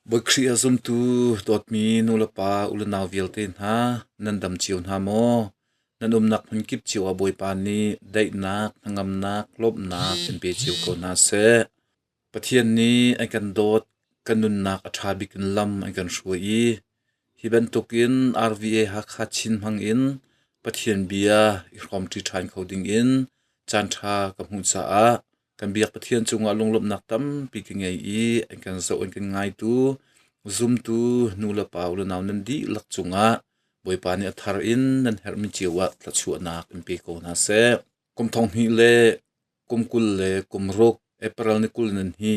Bawi-Khrih a zumtu dawtmi nulepa unau vialte hna, nan dam cio hna maw? Nan umnak hmunkip cio ah Bawipa nih daihnak, hnangamnak, lawmhnak in pe cio ko hna seh. Pathian nih an kan dawt, kan nunnak a ṭha bik in lam an kan hruai i hi bantukin RVA Hakha Chin hmangin Pathian bia i hrawmṭi ṭhan kho dingin caanṭha ka hmuh caah Kan biak Pathian cungah lunglawmhnak tampi ka ngei i an kan zoh an kan ngaitu zumtu nu le pa u le nau nan dihlak cungah Bawipa nih a thar in nan herhmi cio ah thluachuahnak in pe ko hna seh. Kum thong hnih le kum kul le kum ruk April ni kul nan hi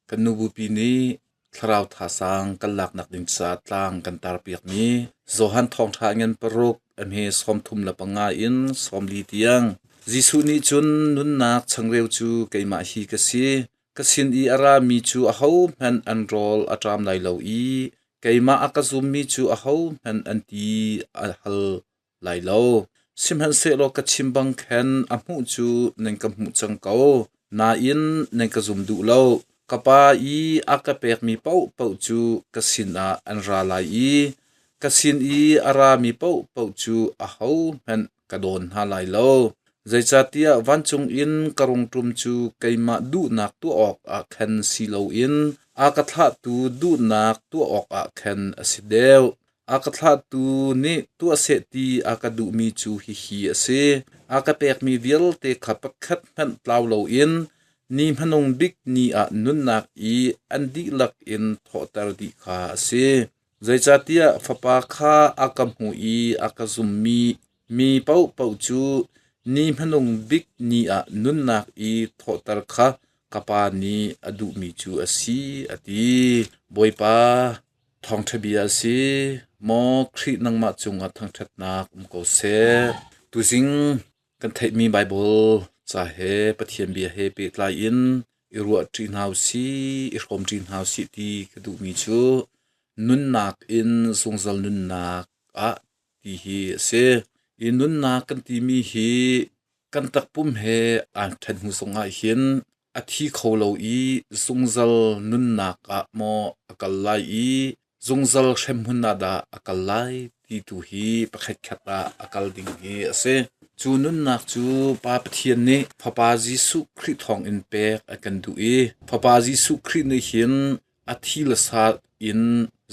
Kan nubupi nih thlarau thazaang kan laknak ding caah tlang kan tarpiakmi Johan thawngṭha ngan paruk am he sawm thum le panga in sawm li tiang Jesuh nih cun nunnak changreu cu keimah hi ka si ka sin i a rami cu ahohmanh an rawl a ṭam lai lo i keimah a ka zummi cu ahohmanh an ti a hal. lai lo. Sihmanhsehlaw ka chim bang khan a hmuh cu nan ka hmuh cang ko. Nain nan ka zum duh lo. Ka Pa i a ka pekmi paohpaoh cu ka sinah an ra lai i ka sin i a rami paohpaoh cu ahohmanh ka dawn hna lai lo. Zeicahtiah vancung in ka rungṭum cu keimah duhnak tuah awkah khan si loin a ka thlahtu duhnak tuah awkah khan a si deuh. A ka thlahtu nih tuah seh ti a ka duhmi cu hihi a si: a ka pekmi vialte kha pakhat hmanh tlau loin ni hmanung bik ni ah nunnak i an dihlak in thawhter dih kha a si. Zeicahtiah Fapa kha a ka hmuh i a ka zummi mi paohpaoh cu ni hmanung bik ni ah nunnak i thawhter kha ka Pa nih a duhmi cu a si, a ti. Bawipa, Thawngṭha bia a si. Maw Khrih nangmah cungah thangṭhatnak um ko seh. Tuzing kan theihmi Baibal ca he Pathian bia he pehtlai in i ruahṭi hna u sih, i hrawm ṭi hna u sih ti ka duhmi cu nunnak in zungzal nunnak ah ti hi a si. Hi nunnak kan timi hi Kan takpum he aan ṭhen hnuzung ahhin a thi kho lo i zungzal nunnak ah maw a kal lai i zungzal hremhmun ah dah a kal lai ti tu hi pakhatkhat ah a kal ding hi a si. Cu nunnak cu Pa Pathian nih Fapa Jesuh Khrih thawngin pek a kan duh i Fapa Jesuh Khrih nih hin a thi le sa in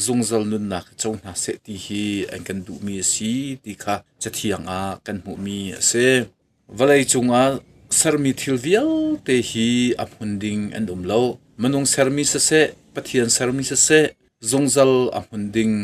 zungzal nunnak i co hna seh ti hi an kan duhmi a si ti kha cathiang ah kan hmuhmi a si. Vawlei cungah sermi thil vialte hi a hmun ding an um lo. Minung sermi siseh, Pathian sermi siseh, zungzal a hmun ding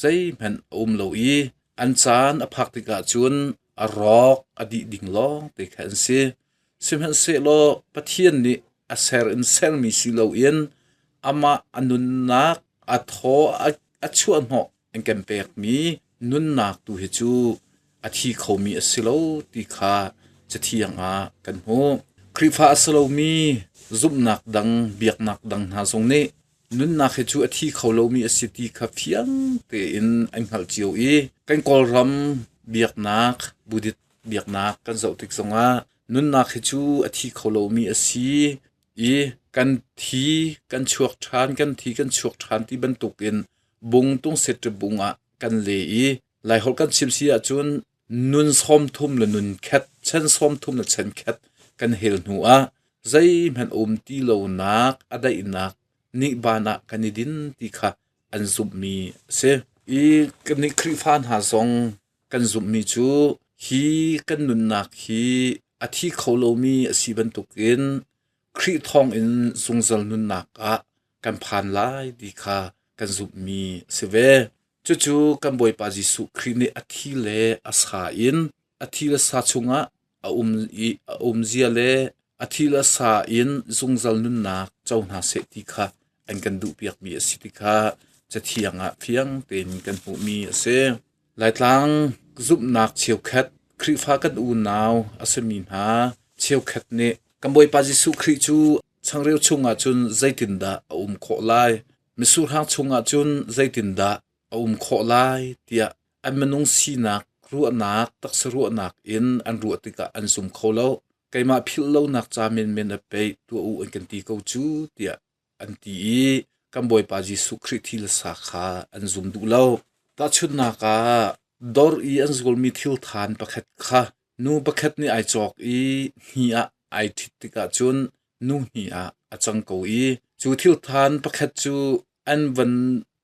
zeihmanh a um lo i an caan a phak tikah cun a rawk a dih ding lawng te kha an si. Sihmanhsehlaw Pathian nih a ser in sermi si loin amah a nunnak a thaw a chuahhnawh an kan pekmi nunnak tu hi cu a thi khomi a si lo ti kha Cathiang ah kan hmuh. Khrihfa a si lomi zumhnak dang, biaknak dang hna zong nih nunnak hi cu a thi kho lomi a si ti kha fiang tein an hngalh cio i kan Kawlram biaknak Buddhist Biaknak kan zoh tik zongah nunnak hi cu a thi kho lomi a si i kan thi kan chuak ṭhan kan thi kan chuak ṭhan ti bantukin bung tungseṭip bung ah kan le i Laiholh kan chim si ahcun nun sawmthum le nun khet chen sawmthum le chen khet kan hel hnu ah zeihmanh um ti lonak a daihnak nihban ah kan i din ti kha an zumhmi a si. I kannih Khrihfa hna zong Kan zumhmi cu hi kan nunnak hi a thi kho lomi a si bantukin Khrih thawngin zungzal nunnak ah kan phan lai ti kha kan zumhmi a si ve. Cucu kan Bawipa Jesuh Khrih nih a thi le a sa in a thi le sa chungah A umzia le a thil a sa in zungzal nunnak co hna seh ti kha an kan duhpiakmi a si ti kha cathiang ah fiang tein kan hmuhmi a si. Laitlang zumhnak cheukhat Khrihfa kan unau a simi hna cheukhat nih kan Bawipa Jesuh Khrih cu changreu chungah cun zeitindah a um khawh lai? Misuhrang chungah cun zeitindah a um khawh lai? tiah an minung sinak ruahnak taksa ruahnak in an ruah tikah an zum kho lo keimah philh lonak ca menmen a pei tuah u an kan ti ko cu tiah an ti i kan bawipa jesuh khrih thilsa kha an zum duh lo tahchunnak ah dor i an zulmi thil than pakhat kha nu pakhat nih ai cawk i hni ah ai ṭhit tikah cun nu hni ah a cang ko i cu thil than pakhat cu an van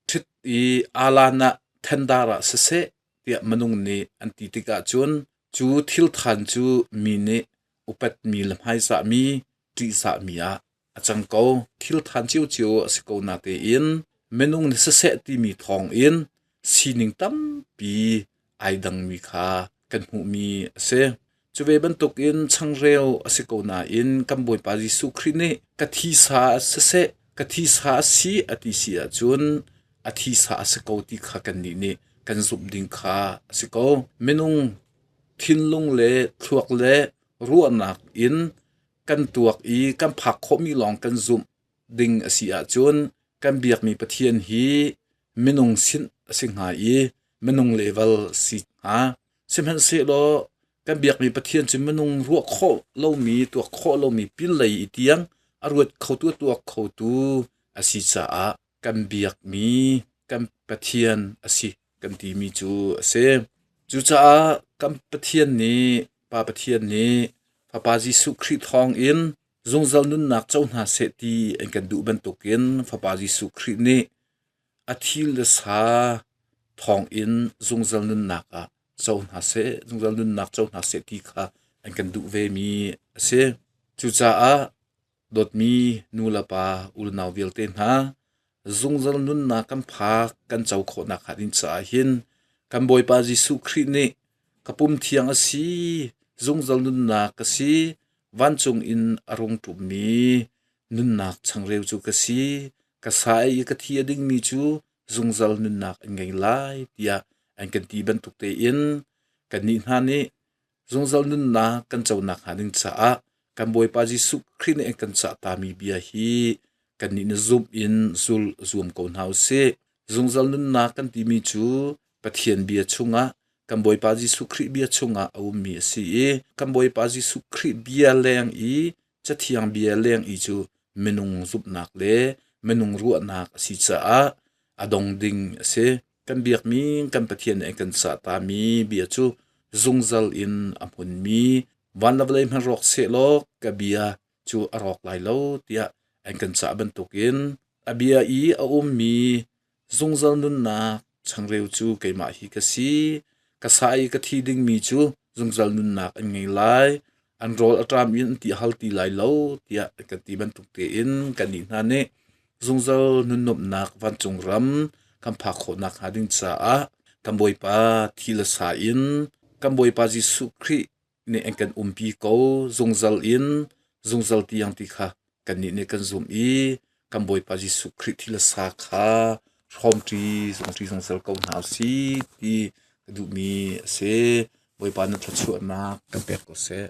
Ṭhit i aa lan ah thendaar ah siseh tiah minung nih an ti tikah cun cu thilthan cu mi nih upatmi le hmaizahmi, ṭihzahmi ah a cang ko. Thilthan cio a si ko natein minung nih siseh timi thawngin sining tampi ai dangmi kha kan hmuhmi a si. Cu ve bantukin changreu a si ko nain kan Bawipa Jesuh Khrih nih ka thisa ah siseh, ka thisa a si a ti si ahcun a thisa a si ko ti kha kannih nih kan zumh ding kha a si ko. Minung thinlung le thluak le ruahnak in kan tuak i kan phak khawhmi lawng kan zumh ding a si ahcun kan biakmi Pathian hi minung sin a si hnga i Minung level si hnga. Sihmanhsehlaw kan biakmi Pathian cu minung ruah khawh lomi, tuak khawh lomi pinlei i tiang a ruat khotu, tuak khotu a si caah kan biakmi kan Pathian a si kan timi cu a si. Cucaah kan Pathian nih, Pa Pathian nih Fapa Jesuh Khrih thawngin zungzal nunnak co hna seh ti an kan duh bantukin Fapa Jesuh Khrih nih A thil le sa thawngin zungzal nunnak ah co hna seh, zungzal nunnak co hna seh ti kha an kan duh vemi a si. Cucaah dawtmi nu le pa unau vialte hna, zungzal nunnak kan phak kan co khawhnak hnga ding caah hin kan Bawipa Jesuh Khrih nih ka pum thiang a si, zungzal nunnak ka si, vancung in a rung ṭummi nunnak changreu cu ka si, ka sa i ka thi a dingmi cu zungzal nunnak an ngei lai tiah an kan ti bantuk tein kannih hna nih zungzal nunnak kan co nakhnga ding caah kan Bawipa Jesuh Khrih nih an kan cahtami bia hi kannih na zumh in zul zuam ko hna u sih. Zungzal nunnak kan timi cu Pathian bia chungah kan Bawipa Jesuh Khrih bia chungah a ummi a si i kan Bawipa Jesuh Khrih bia leng i Cathiang bia leng i cu minung zumhnak le minung ruahnak a si caah a dong ding a si. Kan biakmi kan Pathian nih kan sahtami bia cu zungzal in a hmunmi van le vawlei hmanh rawk sehlaw ka bia cu a rawk lai lo tiah an kan cah bantukin a bia i a ummi Zungzal nunnak changreu cu keimah hi ka si. Ka sa i ka thi dingmi cu zungzal nunnak an ngei lai. An rawl a ṭam in an ti hal ti lai lo tiah ka ti bantuk tein kannih hna nih zungzal nunnumnak vancung ram kan phak khawh nakhnga ding caah kan Bawipa thi le sa in kan Bawipa Jesuh Khrih nih an kan umpi ko zungzal in zungzal tiang ti kha kannih nih kan zum i kan Bawipa Jesuh Khrih thil sa kha hrawmṭi zungṭi zungzal ko hna si ti ka duhmi a si. Bawipa na thluachuahnak kan pek ko seh.